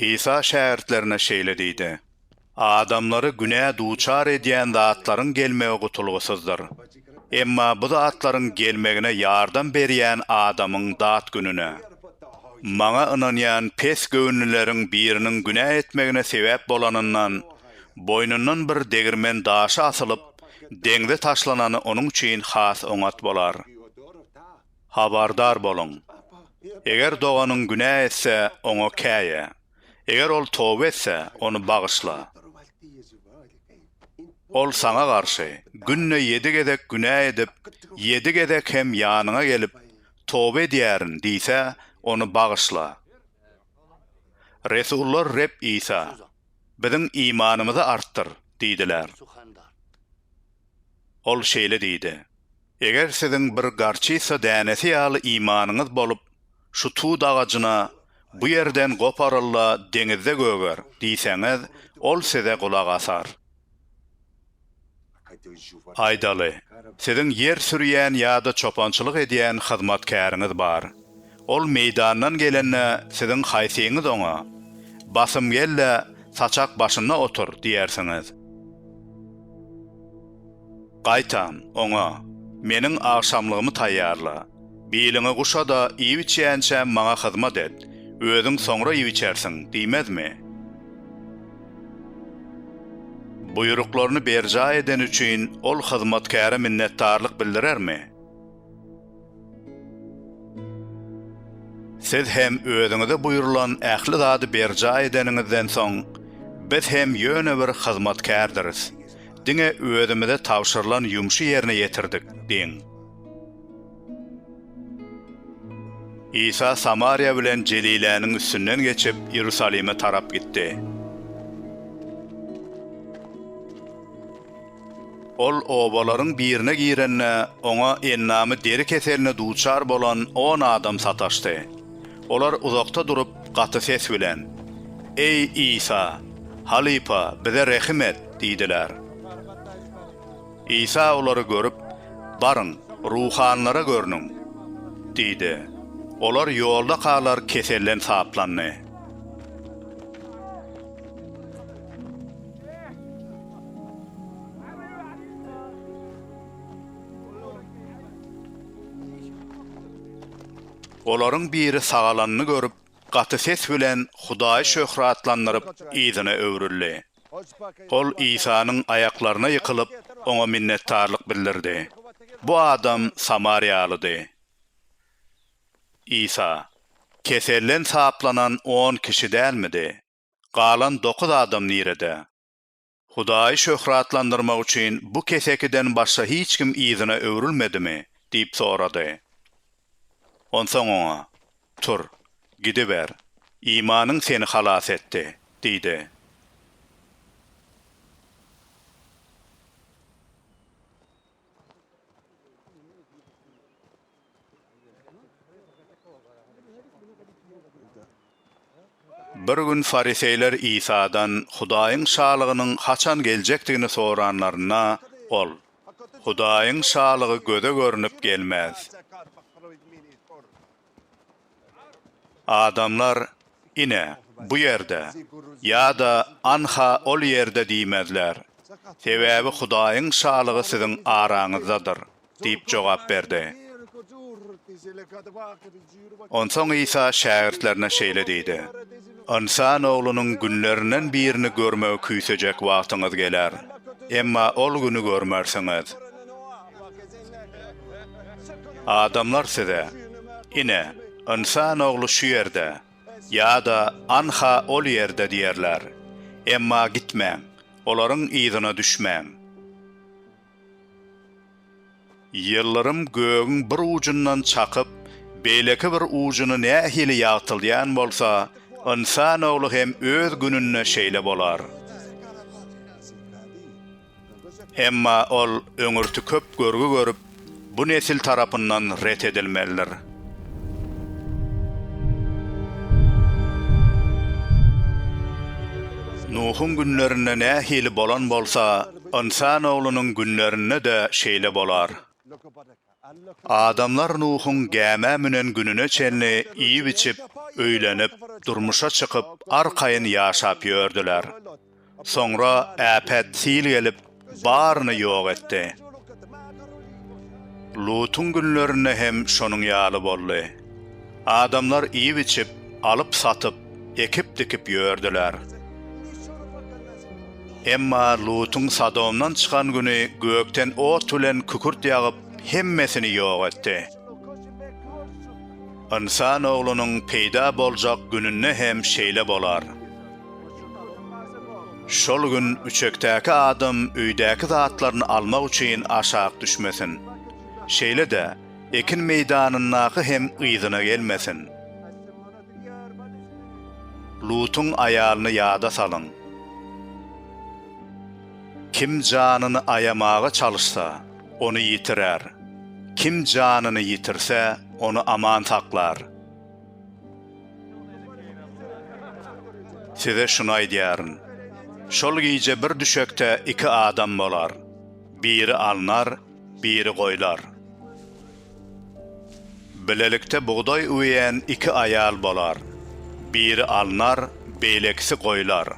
Isa şägirtlerine şeýle diýdi, Adamlary günä duçar edýän zatlaryň gelmegi gutulgysyzdyr. Emma bu zatlaryň gelmegine ýardam berýän adamyň dat gününe. Maňa ynanýan pes göwünlileriň biriniň günä etmegine sebäp bolanyndan, boýnundan bir degirmen daşy asylyp, deňze taşlanany onuň üçin has oňat bolar. Habardar boluň! Eger doganyň günä etse, oňa käýe. Eger ol toba etse, ony bagyşla. Ol saňa garşy, günde ýedi gezek günä edip, ýedi gezek hem ýanyňa gelip, Toba edýärin! diýse, ony bagyşla. Resullar Reb Isa, Biziň imanymyzy artdyr! diýdiler. Ol şeýle diýdi. Eger siziň bir gorçitsa dänesi ýaly imanyňyz bolup, şu tut agajyna, Bu ýerden goparyl-da, deňizde göger! diýseňiz, ol size gulak asar. Aýdaly, siziň ýer sürýän ýa-da çopançylyk edýän hyzmatkäriňiz bar. Ol meýdandan gelende, siziň haýsyňyz oňa, Basym gel-de, saçak başynda otur! diýersiňiz. Gaýtam, oňa, Meniň agşamlygymy taýýarla. Biliňi guşa-da, iýip-içýänçä maňa hyzmat et. Özüň soňra iýip-içersiň diýmezmi? Buýruklaryny berjaý edeni üçin ol hyzmatkäre minnetdarlyk bildirermi? Siz hem özüňize buýrulan ähli zady berjaý edeniňizden soň, biz hem ýöne bir hyzmatkärdiris, diňe özümize tabşyrylan ýumşy ýerine ýetirdik diýiň. Isa Samariýa bilen Jeliläniň üstünden geçip, Iýerusalime tarap gitdi. Ol obalaryň birine girende, oňa endamy deri keseline duçar bolan on adam sataşdy. Olar uzakda durup, gaty ses bilen, Eý, Isa, halypa, bize rehim et! diýdiler. Isa olary görüp, Baryň, ruhanylara görnüň! diýdi. Olar ýolda kalar keselden saplandy. Olaryň biri sagalanyny görüp, gaty ses bilen Hudaýy şöhratlandyryp, yzyna öwrüldi. Ol Isanyň aýaklaryna ýykylyp, oňa minnetdarlyk bildirdi. Bu adam samariýalydy. Isa, Keselden saplanan on kişi dälmidi? Galan dokuz adam nirede? Hudaýy şöhratlandyrmak üçin bu kesekiden başga hiç kim yzyna öwrülmedimi? diýip sorady. Onsoň oňa, Tur, gidiber, imanyň seni halas etdi diýdi. Bir gün fariseýler Isadan Hudaýyň Şalygynyň haçan geljekdigini soranlarynda, Ol, Hudaýyň Şalygy göze görnüp gelmez. Adamlar ine, bu ýerde ýa-da anha ol ýerde diýmezler, sebäbi Hudaýyň Şalygy siziň araňyzdadyr diýip jogap berdi. Onsoň Isa şägirtlerine şeýle diýdi. Ynsan oglunyň günlerinden birini görmegi küýsejek wagtyňyz geler. Emma ol güni görmersiňiz. Adamlar size, Ine, Ynsan ogly şu ýerde! ýa-da Anha ol ýerde! diýerler. Emma gitmäň, olaryň yzyna düşmäň. Ýyldyrym gögüň bir ujundan çakyp, beýleki bir ujuny nähili ýagtyldýan bolsa, ynsan ogly hem öz gününde şeýle bolar. Emma ol öňürti köp görgi görüp, bu nesil tarapyndan ret edilmelidir. Nuhuň günlerinde nähili bolan bolsa, Ynsan oglunyň günlerinde-de şeýle bolar. Adamlar Nuhuň gämä münen gününe çenli iýip-içip, öýlenip, durmuşa çykyp, arkaýyn ýaşap ýördüler. Soňra äpet sil gelip, baryny ýok etdi. Lutuň günlerinde hem şonuň ýaly boldy. Adamlar iýip-içip, alyp-satyp, ekip-dikip ýördüler. Emma Lutuň Sodomdan çykan güni gökden ot bilen kükürt ýagyp, hemmesini ýok etdi. Ynsan Oglunyň peýda boljak gününde hem şeýle bolar. Şol gün üçekdäki adam öýdäki zatlaryny almak üçin aşak düşmesin. Şeýle-de, Ekin meýdanyndaky hem yzyna gelmesin. Lutuň aýalyny ýada salyň. Kim janyny aýamaga çalyşsa, ony ýitirer, kim janyny ýitirse, ony aman saklar. Size şuny aýdýaryn, şol gije bir düşekde iki adam bolar, biri alnar, Biri goýlar. Bilelikde bugdaý üweýän iki aýal bolar. Biri alnar, beýlekisi goýlar.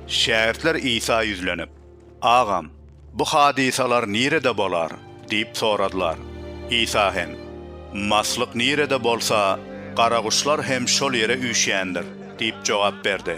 Şägirtler Isa ýüzlenip, Agam, bu hadysalar nirede bolar? diýip soradylar. Isa hem, Maslyk nirede bolsa, garaguşlar hem şol ýere üýşýändir diýip jogap berdi.